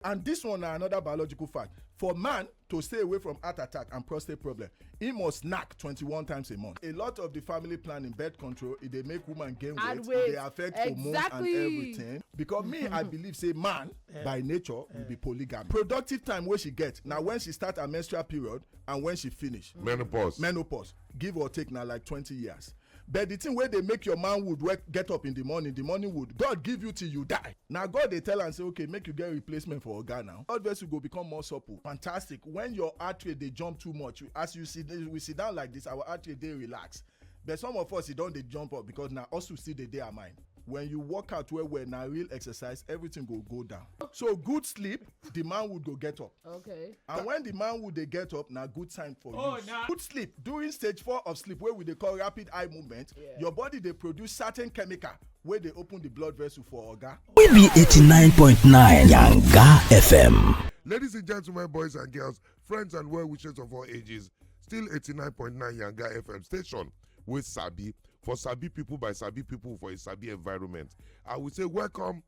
And dis one na anoda biological fact, for man to stay away from heart attack and prostate problem, im must knack twenty-one times a month. A lot of di family planning, birth control, e dey make woman gain weight, e dey affect hormones and evritin. Becos me I believe say man by nature will be polygamy. Productive time wey she get na wen she start her menstrual period and wen she finish. Menopause. Menopause, give or take na like twenty years. But the thing wey dey make your manwood wake get up in the morning, the morning wood, God give you till you die. Na God dey tell am say okay make you get replacement for oga na. Blood vessel go become more supple. Fantastic, when your heart rate dey jump too much, as you sit, we sit down like this, our heart rate dey relax. But some of us e don dey jump up because na hustle still dey dey our mind. When you work out well well, na real exercise, everything go go down. So good sleep, the manhood go get up okay and when the manhood dey get up na good time for oh, you nah. good sleep during stage four of sleep wey we dey call rapid eye movement yeah. your body dey produce certain chemical wey dey open the blood vessel for oga. we be eighty nine point nine yanga fm. ladies and gentlemen boys and girls friends and well wishers of all ages still eighty nine point nine yanga fm station wey sabi for sabi people by sabi people for a sabi environment i will say welcome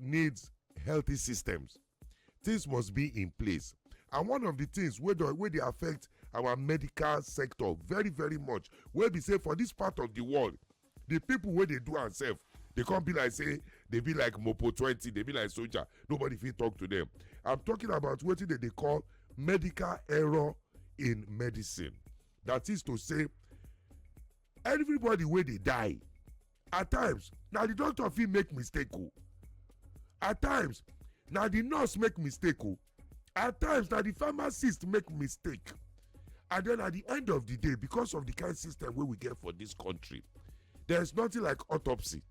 needs healthy systems things must be in place and one of the things wey don wey dey affect our medical sector very very much wey be say for this part of the world the people wey dey do am sef dey come be like say dey be like mopo twenty dey be like soldier nobody fit talk to them i'm talking about wetin dem dey call medical error in medicine that is to say everybody wey dey die at times na the doctor fit make mistake o at times na the nurse make mistake o at times na the pharmacist make mistake and then at the end of the day because of the kind system wey we get for this country there is nothing like autopsy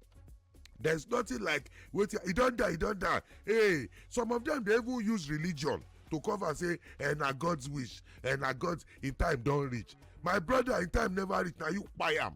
there is nothing like wetin e don die e don die hey some of them dey even use religion to cover say eh na god's wish eh na god's in time don reach my brother in time never reach na you kpai am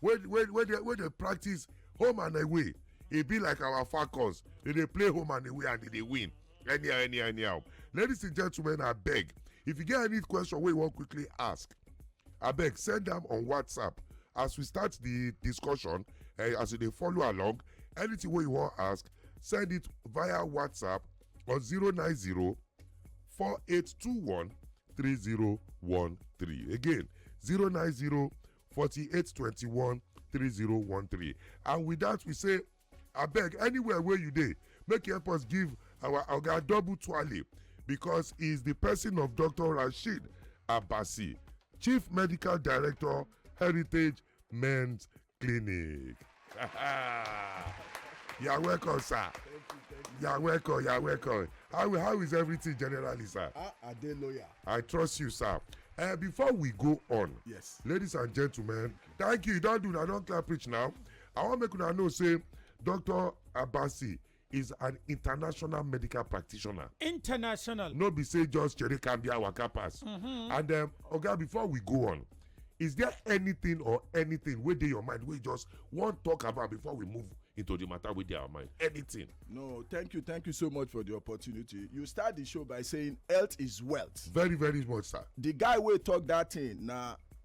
wey wey wey dey wey dey practice home and away e be like our falcons dey dey play home and away and dey dey win anyhow anyhow anyhow ladies and gentlemen abeg if you get any question wey you wan quickly ask abeg send am on whatsapp as we start the discussion eh, as you dey follow along anything wey you wan ask send it via whatsapp on 090 4821 3013 again 090 48 21 3013 and with that we say abeg anywhere wey you dey make you help us give our oga double twale because he is the person of dr rasheed abasi chief medical director heritage men's clinic. you are welcome sir you are welcome you are welcome how how is everything generally sir. ah i dey loyal. i trust you sir uh, before we go on yes ladies and gentlemen thank you you don do na don clap reach now i wan make una know say dr abasi is an international medical practitioner international no be say just chere kambia waka pass and um, oga before we go on is there anything or anything wey dey your mind wey you just wan talk about before we move into the matter wey dey our mind anything No, thank you, thank you so much for the opportunity. You start the show by saying health is wealth. very very much sir The guy wey talk that thing na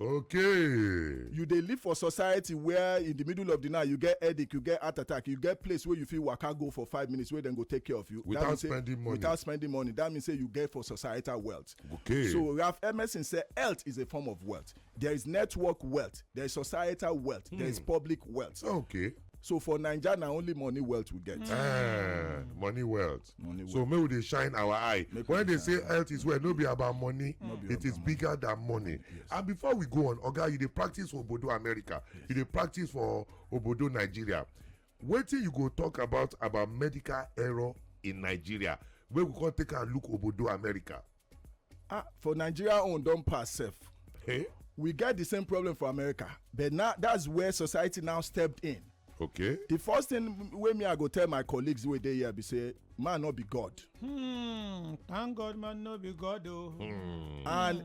okay you dey live for society where in the middle of the night you get headache you get heart attack you get place where you fit waka go for five minutes wey dem go take care of you without spending money without spending money that mean say you get for societal wealth okay so ralph emerson say health is a form of wealth there is network wealth there is societal wealth hmm. there is hmm. public wealth okay so for naija na only money wealth we get. Mm. Ah, money wealth. money so well make we dey shine our eye Make we when dey they say shine our health is well no be about money be it about is money. bigger than money Yes. and before we go on oga you dey practice for obodo america you dey practice for obodo nigeria wetin you go talk about about medical error in nigeria wey we come take am look obodo america. ah for nigeria own don pass sef eh? we get the same problem for america but now that's where society now stepped in okay the first thing wey me i go tell my colleagues wey dey here be say man no be god hmm thank god man no be god o oh. hmm. and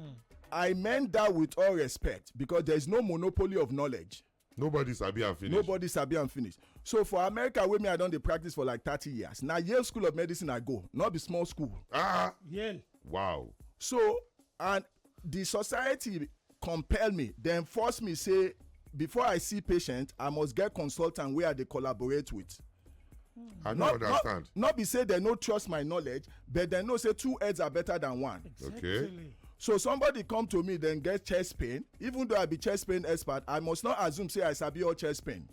i meant that with all respect because there is no monopoly of knowledge nobody sabi am finish nobody sabi am finish so for america wey me i don dey practice for like thirty years na yale school of medicine i go no be small school ah yale wow so and the society compel me dem force me say before i see patient i must get consultant wey i dey collaborate with i no understand not be say dem no trust my knowledge but dem know say two heads are better than one okay so somebody come to me then get chest pain even though i be chest pain expert i must not assume say i sabi all chest pain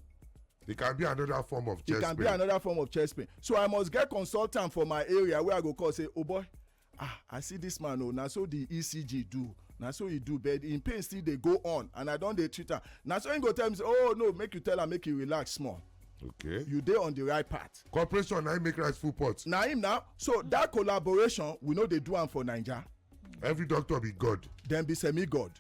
it can be another form of chest pain it can be another form of chest pain so i must get consultant for my area where i go call say oh boy ah i see this man o oh, na so the ecg do na so he do but him pain still dey go on and i don dey treat am na so him go tell me say oh no make you tell am make he relax small okay you dey on the right path corporation na im make rice full pot na im na so that collaboration we no dey do am for naija every doctor be god dem be semi god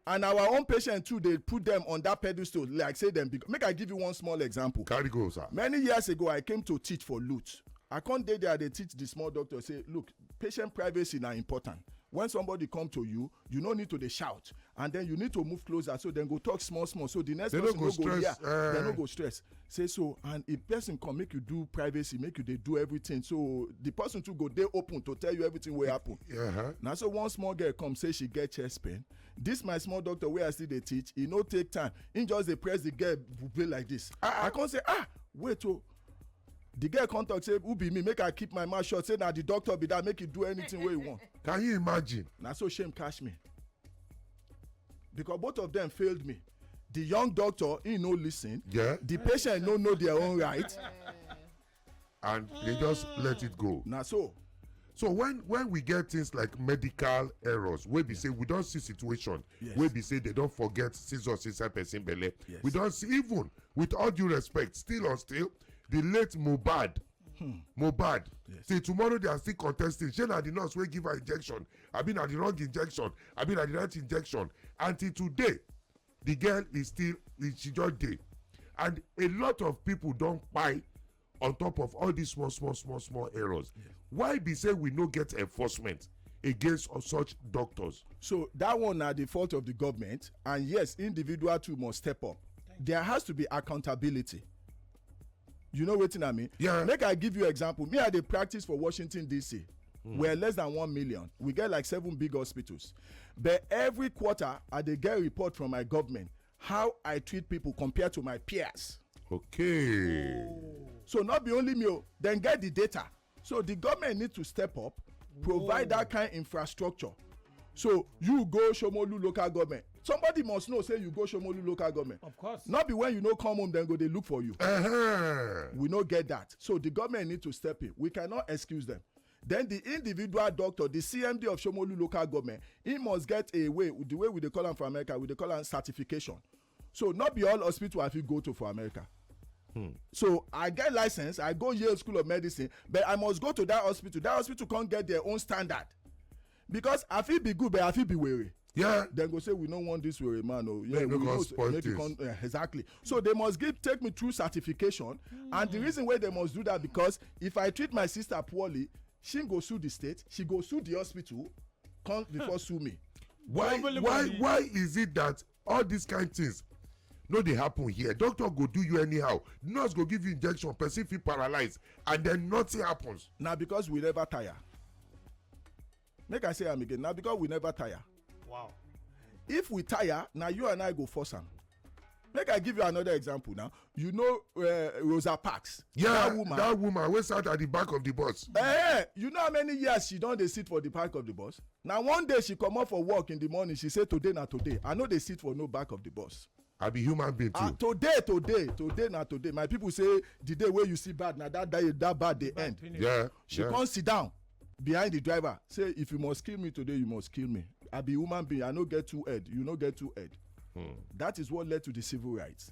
and our own patient too dey put dem on that pedestal like say dem be make i give you one small example carry go sir many years ago i came to teach for lut i come dey there dey teach the small doctor say look patient privacy na important when somebody come to you you no need to dey shout and then you need to move closer so dem go talk small small so the next They no person go no go hear stress, eh. dem no go stress say so and if person come make you do privacy make you dey do everything so the person too go dey open to tell you everything wey happen uh-huh. na so one small girl come say she get chest pain this my small doctor wey i still dey teach e no take time he just dey press the girl bube like this ah, ah. i come say ah wait o oh. the girl come talk say who be me make i keep my mouth shut say na the doctor be that make he do anything wey he want can you imagine na so shame catch me because both of them failed me the young doctor he no listen yeah the patient no know their own right and they just let it go na so so when when we get things like medical errors wey be say we don see situation wey be say they don forget scissors inside person belle we don see even with all due respect still on still the late mohbad Hmm. mohbad till tomorrow they are still contesting shey na the nurse wey give her injection abi na the wrong injection abi na the right injection until today the girl is still she just dey and a lot of people don kpai on top of all these small small small small errors why be say we no get enforcement against such doctors. so that one na the fault of the government and yes individual too must step up there has to be accountability you know wetin i mean yeah make i give you example me i dey practice for washington dc Mm. we're less than one million we get like seven big hospitals but every quarter i dey get report from my government how i treat people compared to my peers okay oh. so not be only me o oh, dem get the data so the government need to step up provide that kind infrastructure so you go shomolu local government somebody must know say you go shomolu local government of course not be when you no come home dem go dey look for you uh-huh. we no get that so the government need to step in we cannot excuse them then the individual doctor the cmd of shomolu local government he must get a way the way we dey call am for america we dey call am certification so no be all hospital i fit go to for america Hmm. so i get license i go yale school of medicine but i must go to that hospital that hospital come get their own standard because i fit be good but i fit be weary yeah dem go say we no want this weary man o oh. yeah we no spoil this come, uh, exactly so they must give take me through certification mm. and the reason why they must do that because if i treat my sister poorly she go sue the state she go sue the hospital come before sue me. why why why is it that all dis kind things no dey happen here doctor go do you anyhow nurse go give you injection person fit paralyze and then nothing happens. na because we never tire make i say am again na because we never tire. wow. if we tire na you and i go force am make i give you another example now you know uh, rosa parks yeah that woman that woman wey sat at the back of the bus eh you know how many years she don dey sit for the back of the bus na one day she comot for work in the morning she say today na today i no dey sit for no back of the bus i be human being ah, too. Uh, today today today na today my people say the day wey you see bad na that day that bad dey end. Yeah, she yeah. come sit down behind the driver say if you must kill me today you must kill me i be human being i no get two head you no get two head. Hmm. that is what led to the civil rights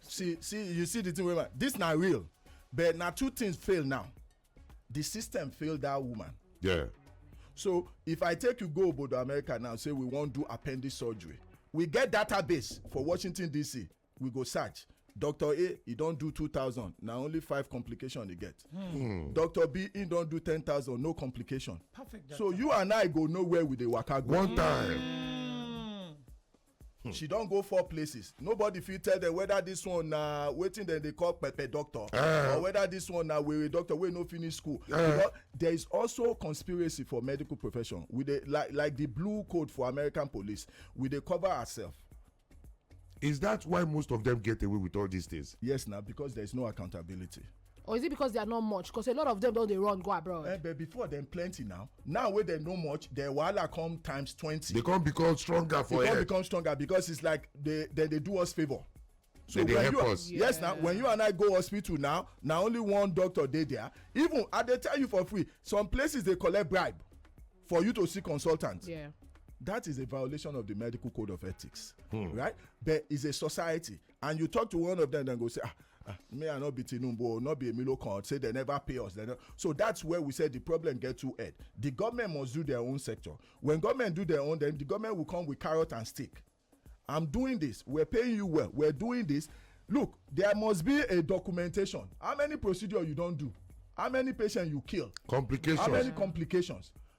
see see you see the thing wey man this na real but na two things fail now the system fail that woman. Yeah. so if i take you go obodo america now say we wan do appendix surgery we get database for washington dc we go search doctor a e don do two thousand na only five complication e get hmm. doctor b e don do ten thousand no complication so you and i go know where we dey waka go one time hmm. Hmm. she don go four places nobody fit tell them whether this one na wetin dem dey call pepper doctor uh, or whether this one na were doctor wey no finish school uh, there is also conspiracy for medical profession we dey like like the blue code for american police we dey cover ourselves. is that why most of them get away with all these things. yes na because there is no accountability. or is it because they are not much because a lot of them don dey run go abroad. Eh, but before dem plenty now now wey dem no much their wahala come times twenty. they come become stronger for here. they come become stronger because it's like they they dey do us favour. so they help you, us. yes yeah. now when you and i go hospital now na only one doctor dey there even i dey tell you for free some places dey collect bribe for you to see consultant. Yeah. that is a violation of the medical code of ethics hmm. right but it's a society and you talk to one of them dem go say ah, ah me i no be tinubu o no be emilio kan say they never pay us no. so that's where we say the problem get too head the government must do their own sector when government do their own then the government will come with carrot and stick i'm doing this we're paying you well we're doing this look there must be a documentation how many procedure you don do how many patients you kill complications how many complications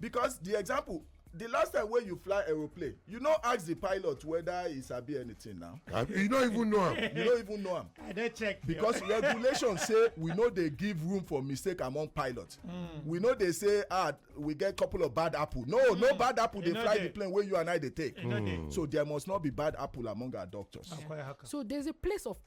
because the example the last time wey you fly aeroplane you no ask the pilot whether he sabi anything now I, you no even know am you no even know am i dey check because regulation say we no dey give room for mistake among pilots mm. we no dey say ah we get couple of bad apple no mm. no hmm. bad apple dey fly the plane wey you and i dey take mm. so there must not be bad apple among our doctors yeah. so there's a place of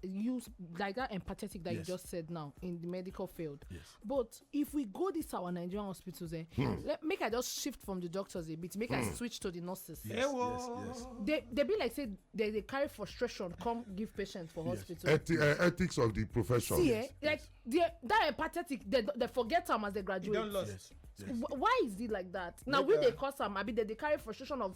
you like that empathetic that yes. you just said now in the medical field yes. but if we go this our nigerian hospitals eh hmm. let, make i just shift from the doctors a bit make hmm. i switch to the nurses yes, yes, yes. they they be like say they they carry frustration come give patients for yes. hospital Eti uh, ethics of the profession see eh, like they that empathetic they they forget am as they graduate yes. Yes. why is it like that now we dey cause am abi they dey carry frustration of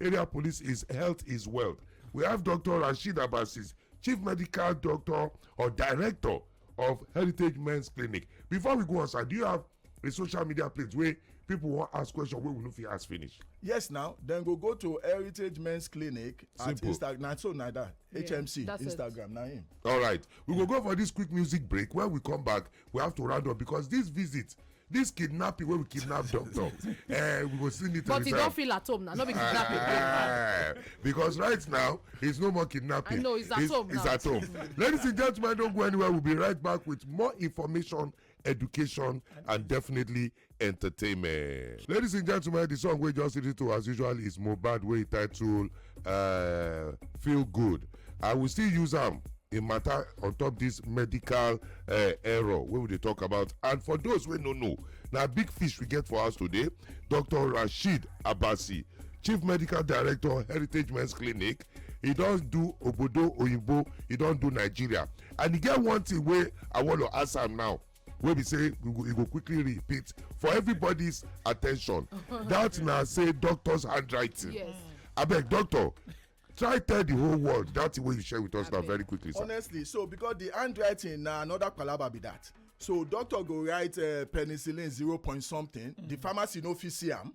Area Police is Health is Wealth. We have Dr. Rashid Abasis, Chief Medical Doctor or Director of Heritage Men's Clinic. Before we go on, sir, do you have a social media page where people wan ask question wey we no fit ask finish. yes now dem go go to heritage men's clinic Simple. at instagram na so na that yeah, hmc instagram na him. all right we yeah. go go for this quick music break when we come back we have to round up because this visit this kidnapping wey we kidnap doctor uh, we go still need to but resign. but e don feel at home now no be kidnapping uh, because right now it's no more kidnapping i know it's at it's, home it's now it's at home ladies and gentlemen don't go anywhere we'll be right back with more information education and definitely entertainment ladies and gentlemen the song wey just listen to as usual is mohbad wey title uh, feel good i will still use am in matter on top this medical uh, error wey we dey talk about and for those wey no know na big fish we get for us today dr rasheed abasi chief medical director heritage men's clinic e don do obodo oyinbo e don do nigeria and e get one thing wey i wan to ask am now wey be say e go quickly repeat for everybody's attention that na say doctors handwriting abeg doctor try tell the whole world that thing wey you share with us now very quickly sir. honestly so because the handwriting na another palaba be that so doctor go write uh, penicillin zero point something mm. the pharmacy no fit see am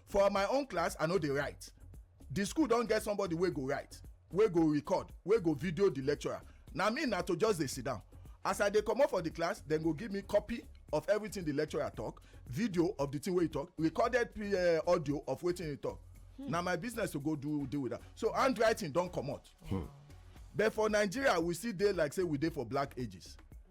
for my own class i no dey write the school don get somebody wey go write wey go record wey go video the lecturer na me na to just dey sit down as i dey comot for the class dem go give me copy of everything the lecturer talk video of the thing wey he talk recorded eh, audio of wetin he talk hmm. na my business to go do deal with that so handwriting don comot hmm. but for nigeria we still dey like say we dey for black ages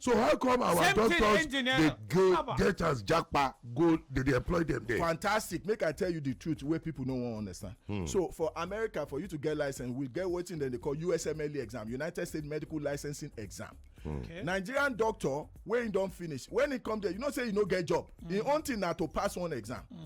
so how come our Same doctors dey go get as japa go dey dey employ them there. fantastic make i tell you the truth wey people no wan understand. Hmm. so for america for you to get license we get wetin dem dey call usmle exam united states medical licensing exam. Hmm. Okay. nigerian doctor wey him don finish when he come there you know say he no get job mm. him own thing na to pass one exam. Mm.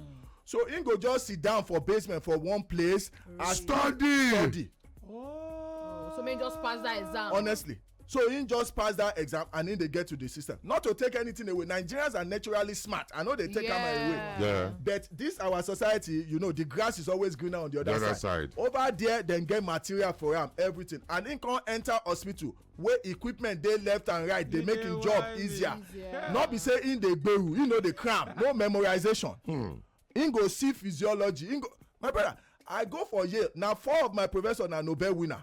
so him go just sit down for basement for one place really? and study. study. Oh. so make just pass that exam. honestly so him just pass that exam and him dey get to the system not to take anything away nigerians are naturally smart i no dey take am away Yeah. but this our society you know the grass is always greener on the other, other side. over there dem get material for am everything and him come enter hospital wey equipment dey left and right dey make him job easier no be say him dey gberu him no dey cram no memorization hmm. him go see physiology him go my brother i go for yale na four of my professor na nobel winner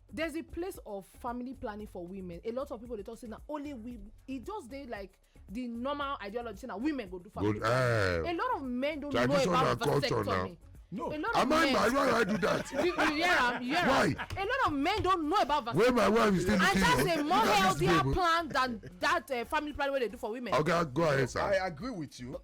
there's a place of family planning for women a lot of people dey talk say na only we e just dey like the normal ideology say na women go do family Good, planning uh, a lot of men don't know about vasectomy no a lot of am i my why i do that you, you hear am you hear why a lot of men don't know about vasectomy wey my wife is still looking and that's a more healthier plan than that uh, family planning wey dey do for women. oga okay, go ahead sir. i agree with you. But,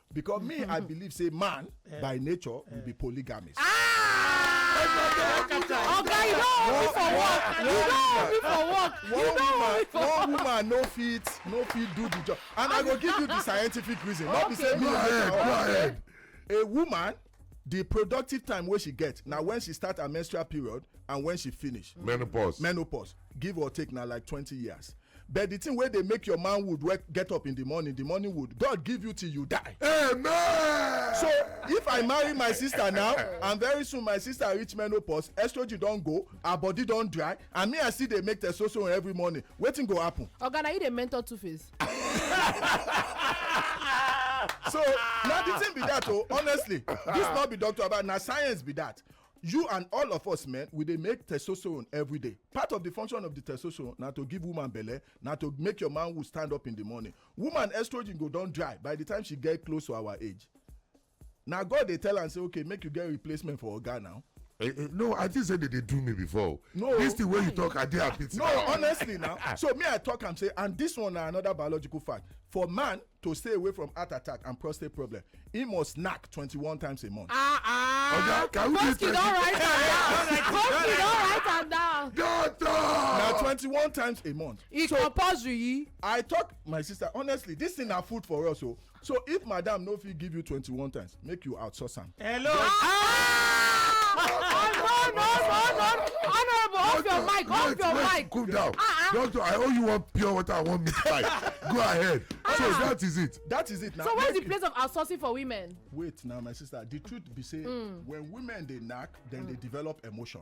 because me i believe say man eh. by nature will eh. be polygamist. Ah! oga you don hold me for work you don hold me for work you don hold me for work. one woman no fit no fit do the job and i go give you the scientific reason no be say me go ahead go ahead a woman the productive time wey she get na when she start her menstrual period and when she finish. menopause menopause give or take na like twenty years But the thing wey dey make your manwood wake get up in the morning, the morning wood, God give you till you die. Amen. So if I marry my sister now and very soon my sister reach menopause, estrogen don go, her body don dry and me I still dey make testosterone every morning, wetin go happen? Oga na you dey mentor two face. so na the thing be that o oh, honestly this no be doctor about na science be that You and all of us men, we dey make testosterone every day. Part of the function of the testosterone na to give woman belle, na to make your manhood stand up in the morning. Woman estrogen go don dry by the time she get close to our age. Na God dey tell am say okay make you get replacement for oga now. Eh, eh, no i think say they dey do me before No. this thing wey you talk i dey happy till No, now. honestly now. So me I talk am say and this one na another biological fact. For man, to stay away from heart attack and prostate problem he must knack twenty-one times a month. ah ah oga can we give twenty. don write am down koski don write am down. doctor na twenty-one times a month. e so, compulsory yi. i talk my sister honestly this thing na food for us o oh. so if madam no fit give you twenty-one times make you outsource am. hello. on on on on honourable off your mic off your mic. cool down ah, ah. doctor i owe you one pure water and one meat pie go ahead so ah. that is it. that is it na. so where is the place of outsourcing for women. wait na my sister the truth be say mm. when women dey knack dem dey mm. develop emotion.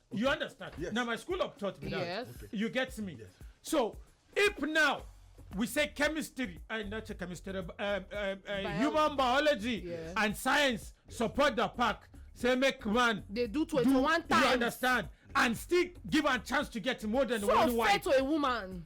okay. you understand yes. na my school of thought be that yes. okay. you get me yes. so if now we say chemistry and not chemistry um, um, uh, Bio human biology yes. and science yes. support the park say make man dey do twenty-one times you understand and still give am chance to get more than so one wife so fair to a woman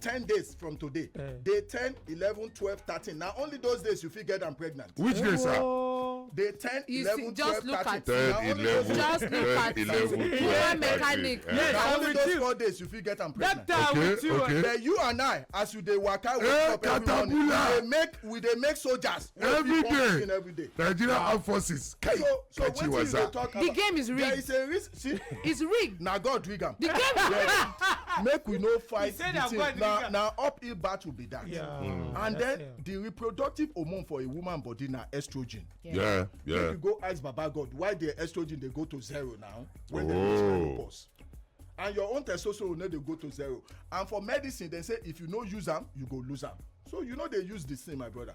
ten days from today eh. day ten eleven twelve thirteen na only those days you fit get am pregnant. which day sir. Oh. day ten eleven twelve thirteen ten eleven just look at human mechanic yes na only those four days you fit get am pregnant. okay okay eh? but you and i as you dey waka wake eh, up every morning we dey make we dey make soldiers every day every day nigeria armed forces kai kai chiwaza the game is rigged there is a risk see it's rigged na god rig am the game make we no fight the thing na na uphill battle be that yeah. mm. and then yeah. the reproductive hormone for a woman body na estrogen yeah yeah, yeah. if you go ask baba god why the estrogen dey go to zero now when oh. dem reach menopause and your own testosterone no dey go to zero and for medicine dem say if you no use am you go lose am so you no dey use the same my brother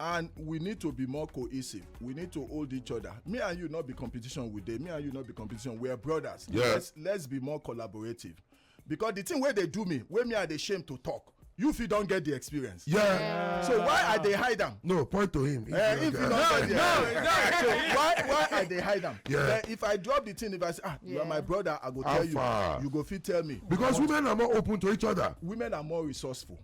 and we need to be more cohesive we need to hold each other me and you not be competition with them me and you not be competition we are brothers yeah. let's let's be more collaborative because the thing where they do me where me are they shame to talk you fit don get the experience. Yeah. yeah. so why i dey hide am. no point to him. Uh, if you don get the experience so why why i dey hide am. Yeah. Uh, if i drop the thing if i say ah yeah. you are my brother i go tell Alpha. you you go fit tell me. because women are more open to each other. women are more resourceful.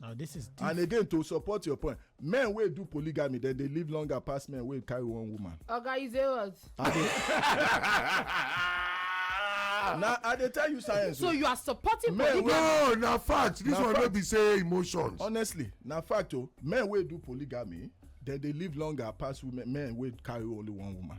Now this is deep. and again to support your point men wey do polygamy dem dey live longer pass men wey carry one woman. oga you say what. na i dey tell you science. so you are supporting polygamy. no na fact this na one no be say emotions. honestly na fact o oh. men wey do polygamy dem dey live longer pass women men wey carry only one woman.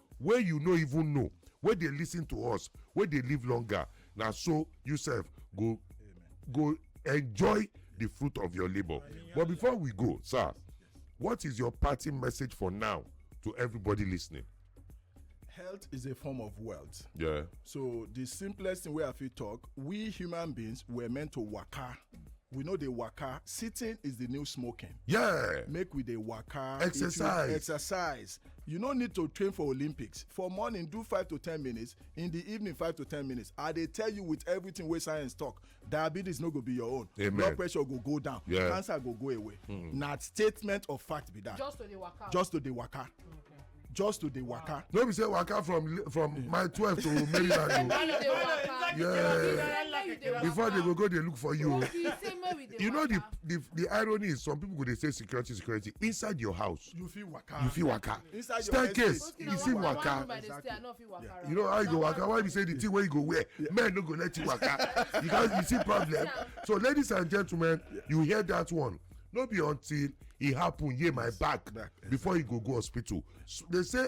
wey you no even know wey dey listen to us wey dey live longer na so you sef go go enjoy the fruit of your labour but before we go sir what is your parting message for now to everybody listening. health is a form of wealth Yeah. so the simplest thing wey i fit talk we human beings were meant to waka we no dey waka sitting is the new smoking Yeah. make we dey waka Exercise. eat, exercise you no need to train for olympics for morning do five to ten minutes in the evening five to ten minutes i dey tell you with everything wey science talk diabetes no go be your own Amen. blood pressure go go down yeah. cancer go go away mm. na statement of fact be that just to dey waka just to dey waka. Okay just to dey waka. no be say waka from from my twelve to maryland o yeah before they go go dey look for you o you know the the the irony is some people go dey say security security inside your house you fit waka you fit waka staircase you fit waka you know how you go waka why be say the thing wey you go wear men no go let you waka because you see problem so ladies and gentlemen you hear that one no be until e happen ye my back before you go go hospital they say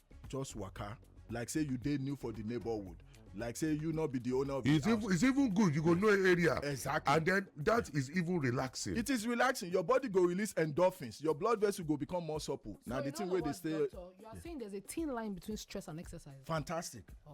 just waka like say you dey new for the neighborhood like say you no be the owner of the it's house even it's even good you go know area Exactly. and then that is even relaxing it is relaxing your body go release endorphins your blood vessel go become more supple na So the in thing other wey dey words, stay doctor, you are saying there's a thin line between stress and exercise. fantastic Oh.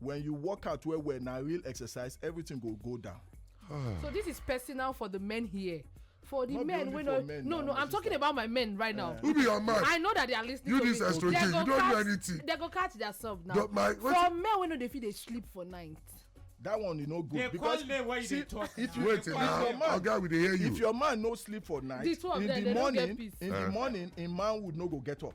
when you work out well well na real exercise everything go go down. so this is personal for the men here for the men wey no no no i'm talking about my men right now. Eh. who be your man i know that they are listening to me you this estrogen you don't do anything they go catch their sub now for men wey no dey fit dey sleep for night that one you no good they because call them when see, you talk if you wait now your man, oga we dey hear you if your man no sleep for night in the morning in the eh. morning im man would no go get up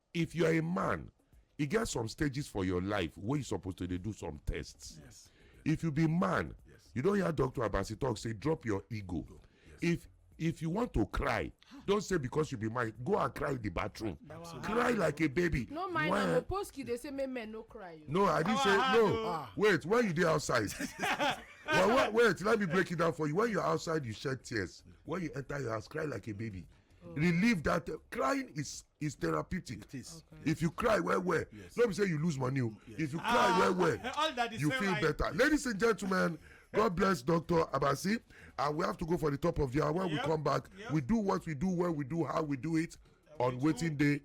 if you are a man e get some stages for your life wey you suppose to dey do some tests yes if you be man yes. you don hear doctor abasi talk say drop your ego yes. if if you want to cry don't say because you be man go and cry in the bathroom cry like a baby no mind na oposki dey say make men no cry no i didn't say no ah. wait when you dey outside well wait let me break it down for you when you're outside you shed tears when you enter your house cry like a baby relieve that uh, crying is is therapeutic it is okay. if you cry well well yes. no be say you lose money o oh. yes. if you cry ah, well well you feel right. better ladies and gentlemen god bless dr abasi and we have to go for the top of the hour when yep. we come back yep. we do what we do when we do how we do it on waiting day